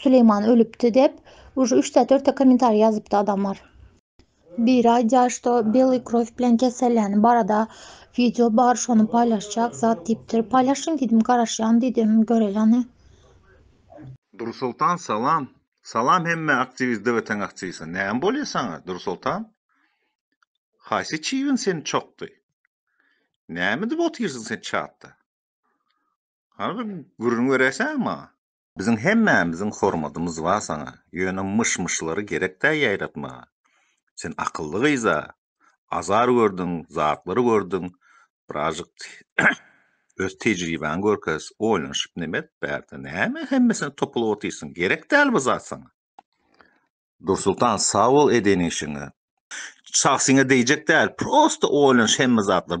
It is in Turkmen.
Süleýman ölüpdi dep uje üç ta dört ta kommentariý ýazypdy adamlar. Biri aýdýar şo belý krow bilen keselläni barada wideo bar şony paýlaşjak zat diýipdir paýlaşyň diýdim garaşýan diýdim göreleni. Dursoltan salam Salam hemme aktiwist dwtň aktiwistine näme bolýa saňa Dursoltan haýsy çybyn seni çokdy nämedip otyrsyň sen çatda Harby gürrüň beräýseň maňa. Biziň hemmämiziň hormadymyz bar saňa, ýöne myş-myşlary gerek däl ýaýratmaga. Sen akylly gyz-a, azar gördüň, zatlar gördüň, birazjyk öz tejribäňi görkez, oýlanyşyp neme et, bärde näme hemmesine topulyp otyrsyň, gerek däl bu zat saňa. Dursultan sag bol eden işiňe. Çagsyňa degjek däl, prosta oýlanyş hemme zatlar.